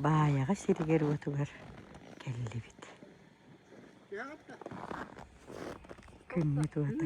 Баайаҕа сиригэр-уотугар кэллибит Күммүт уота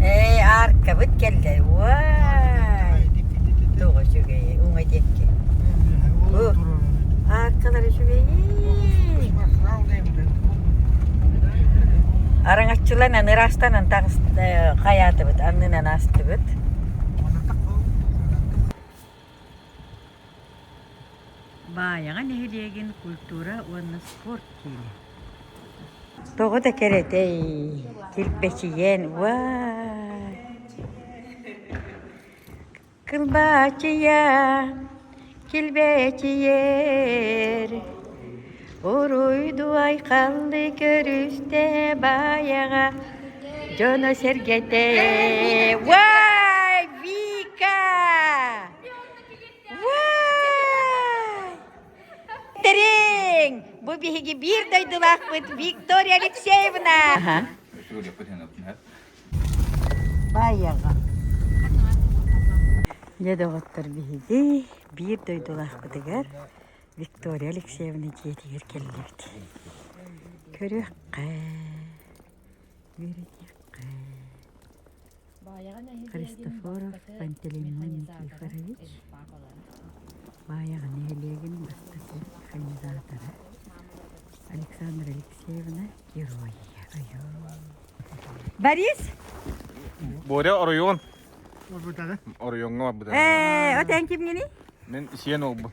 Ээ, ааркабыт кэллэ. Уай! Тоҕо үчүгэйи, уҥа диэкки. Ааркалар үчүгэйи. Араҥаччылан аны ыраастанан тахыс хайаатыбыт, аннынан аастыбыт. Баайаҕа нэһилиэгин культура уонна спорт киинэ. Тоҕо да кэрэтэй, килбэчийэн уаа Кылбачыйа, килбэчийэр Уруйду айхаллы көрүстэ баайаҕа дьоно-сэргэтэ Уай, Вика! Уай! Тэриҥ! Бу биһиги биир дойдулаахпыт Виктория Алексеевна! Баайаҕа. Дьэ доҕоттор биһиги биир дойдулаахпытыгар Виктория Алексеевна дьиэтигэр кэллибит. Көрүөххэ, үөрэтиэххэ. Христофоров Пантелеймон Никифорович Баайаҕа нэһилиэгин бастакы кандидатара Александра Алексеевна Геройия. Борис! Боря оройуон. Орбутада. Оройуонга барбыта. Э, от эн кимгини? Мен сиен олбун.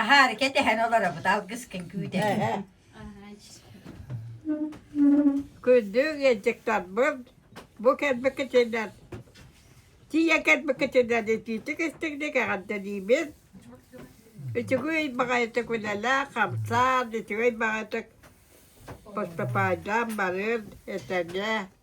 Аһаары кэтэһэн олоробут алгыскын күүтэринэн. Күндүг ыалдьыттарбын бу кэлбикитинэн тиийэ кэлбикитинэн итиитик истиҥник эҕэрдэлиибин. Үчүгүй баҕайытык үлэлээх хамсаан, үчүгэй баҕайытык поступаайдаан барыан этэҥҥэ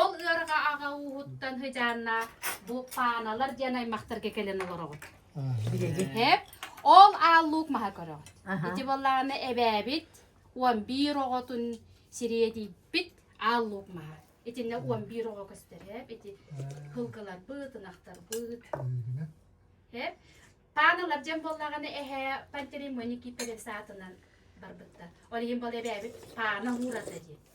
Ол ыарҕа аҕа ууһуттан сыдьааннаах бу пааналар диэн аймахтарга кэлэн олороҕут. Билигиһэп ол аал луук маһа көрөҕүт. Аха. Ити балааны эбээбит он биир оҕотун сириэдийбит аал луук маһа. Итиннэ он биир оҕо көстөрөп, ити кылгыларбыт, ынахтарбыт. Эп. Пааналар дьэн боллаганы эһэ Пантеримони киперексаатынан барбыттар. Ол иһин бол эбээбит паана уурата диэн.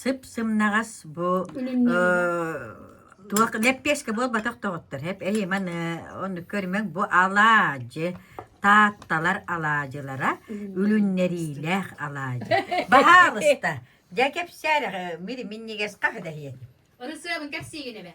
сып-сымнаҕас бу туох лэппиэскэ буолбатах доҕоттор эп эйиманы онну көрүмэҥ бу алаадьы таатталар алаадьылара үлүннэриилээх алаадьы баһаалыста дьэ кэпсээрэх мири миннигэс хаһы дэһиэти ырысыабын кэпсиигин эбэ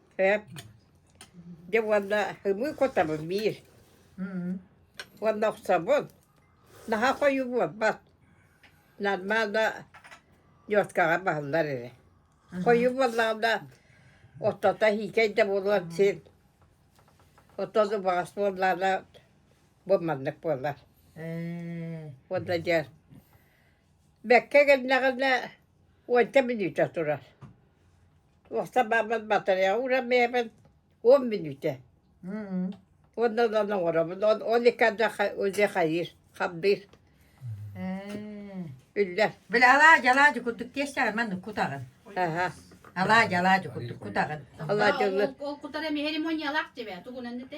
Дьэ уонна ымыы кутабын биир уонна охсобун. Наһаа хойуу буолбат. Нормально ньуоскаҕа баһыллар эрэ. Хойуу буоллаҕына оттото иһиикэй да буолуон син. Оттон убаҕас буоллаҕына бу маннык буолар. Уонна дьэ бэккэ кэллэҕинэ уонча мүнүүтэ турар. Уостабааммыт батарея ууран бэйэбин он мүнүүтэ уонна онон оҥоробун он он иккарда уже хайыыр хабдыыр үллэр били алаадьы алаадьы курдук тиэстэҕин маннык кутаҕын аха алаадьы алаадьы курдук кутаҕын алаадьылы ол кутара мехеремониялаах дьибэ тугунан дете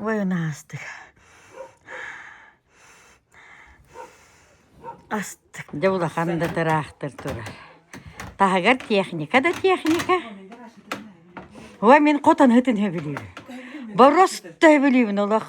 Военнаастык астык дьэ улахан да тыраахтар турар таһыгар техника да техника ой мин хотон ыһытын сөбүлүүбүн борос төбүлүүбүн олох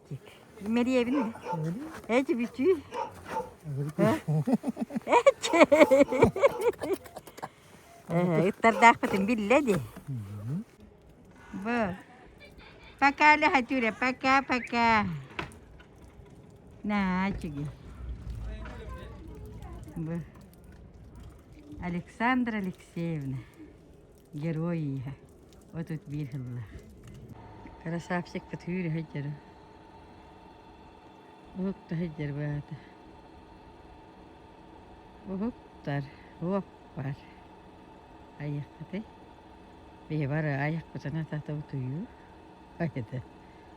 Мэрийэбин мэ. Эчи бүтүү. Эчи. Ыттардаахпытын биллэ ди. Бу. Пока, Лехатюля, пока-пока. На, чиги. Бу. Александра Алексеевна. Герой ииһэ. Отут биир сыллаах. Красавчик кытыыр сылдьар. Уһуктар сылдьар баата. Уһуктар, уоппар. Айаххыты. Бибара айахпытына тата утуйуу. Айда.